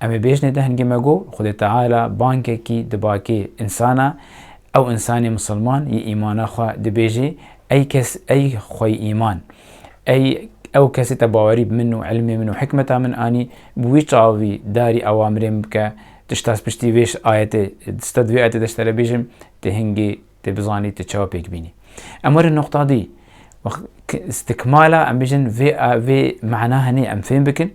Em ê bêjinê dehingê me got, Xwedê Teala bangekî diba kê însan e, ew însanê misilman yê îmana xwe dibêjê, Ey kes, ey xweyî îman! Ey ew kesê te bawerî bi min û îlmê min û hikmeta min anî, bi wî çavî darî awamirê min bike, tu ji destpiştî vê ayetê, tu ji te di vê ayetê de ji te re bêjim, dê hingê Tê bizanî tu çawa pêk bînî. Em werin noqta dî. Stikmala em bijin vê vê mana hinê em fêm bikin.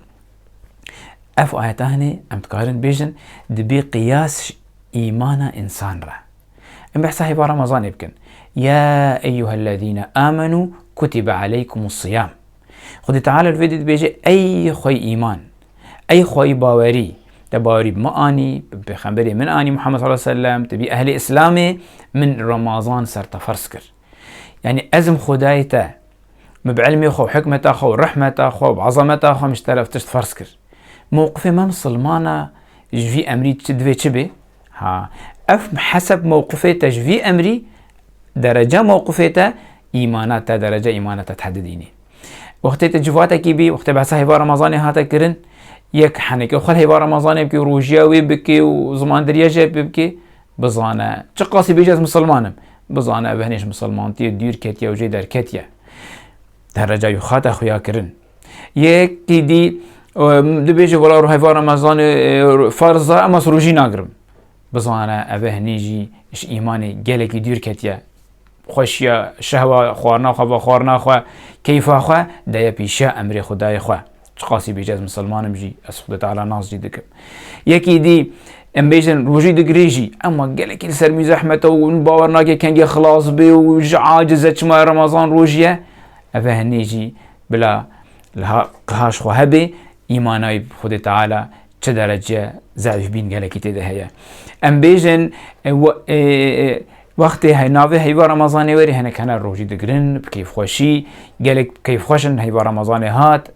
Ev ayeta hinê em dikarin bêjin dibê qiyas îmana însan re. Em behsa hêva Ramazanê bikin. Ya eyyuhellezîne amenû kutibe aleykumus siyam. Xwedî Teala li vê dî dibêje ey xwe îman. Ey xwayî bawerî, te bawerî bi min anî, bi pêxemberê min anî Muhammed sallallahu aleyhi ve sellem, tu bî ehlê îslamê, min remazan ser te ferz kir. Yanî ez im xwedayê te, min bi ilmê xwe û hikmeta xwe û rehmeta xwe û bi ezameta xwe min ji te re ev tişt ferz kir. Mewqifê me misilmana ji vî emrî divê çi bê? Ha, ev heseb mewqifê te ji vî emrî, dereca mewqifê te, îmana te, dereca îmana te tehdidînê. Wextê te civatekî bî, wextê behsa hêva Remezanê hate kirin, yek heneke xwe hêva Remezanê bikî û rojiya wê bikî û zimandiriya jê pê bikî, bizane. Çi qasî bêje ez misilman im, bizane ev hinêj misilmantiyê dûr ketiye û jê derketiye. Dereca wî xwe hate xuya kirin. Yekî dî dibêje wela hêva Remezanê ferz e ema ez rojî nagirim. Bizane ev hinî jî ji îmanê gelekî dûr ketiye. Xweşiya şehwa xwarina xwe va xwarina xwe, keyfa xwe deye pîşiya emrê Xwedayê xwe. Çiqasî bêje ez misilman im jî, ez Xwedê Teala nas jî dikim. Yekî dî em bêjin rojî digirê jî ema gelekî li ser mîzehmet e û min bawer nake kengê xilas bê û ji aciz e çima remezan rojî ye. Eve hinê jî bila li qiha ji xwe hebê îmana wî bi Xwedê Teala çi derece zehîfbîn gelekî tê de heye. Em bêjin Wextê hey navê heyva Remezanê werî hinek hene rojî digirin bi keyfxweşî. Gelek keyfxweş in heyva Remezanê hat.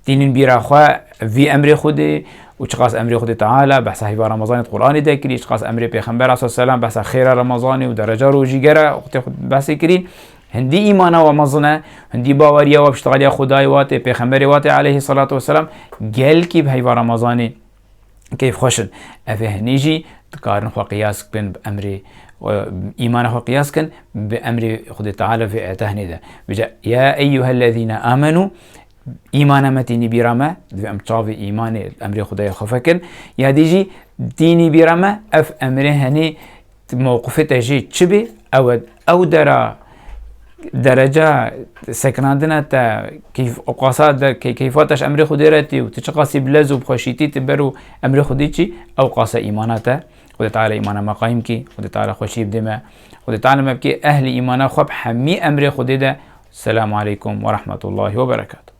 Tînin bîra xwe vî emrê Xwedê û çiqas emrê Xwedê Teala behsa heyva Remezanê di Quranê de kirî, çiqas emrê Pêxembera sal selam behsa xêra Remezanê û dereca rojîgera wextê xwe behsê kirî. Hindî îmana we mezin e, hindî baweriya we piştgaliya Xwedayê we tê, Pêxemberê we tê aleyhî selatû weselam. Gelkî bi heyva Remezanê keyf xweş in. Ev ê hinî jî dikarin xwe qiyas bikin bi emrê îmana xwe qiyas bikin bi emrê Xwedê Teala vê ayeta hinê de. Bije ya eyyuhellezîne amenû îmana me tînî bîra me divê em çavê îmanê emrê Xwedayê xwe fekin. Ya dî jî tînî bîra me ev emrê henê Mewqifê te jî çi bê ew e. Ew dera dereca sekinandina te qasa keyfa te ji emrê Xwedê re tê û tu çiqasî bi lez û bi xweşîtî tu ber û emrê Xwedê çî ew qasa îmana te. Xwedê Teala îmana me qayîm kî. Xwedê Teala xweşiyê bidê me. Xwedê Teala me bikê ehlê îmana xwe bi hemî emrê Xwedê de. Selamu aleykum werahmetullahî weberekatuh.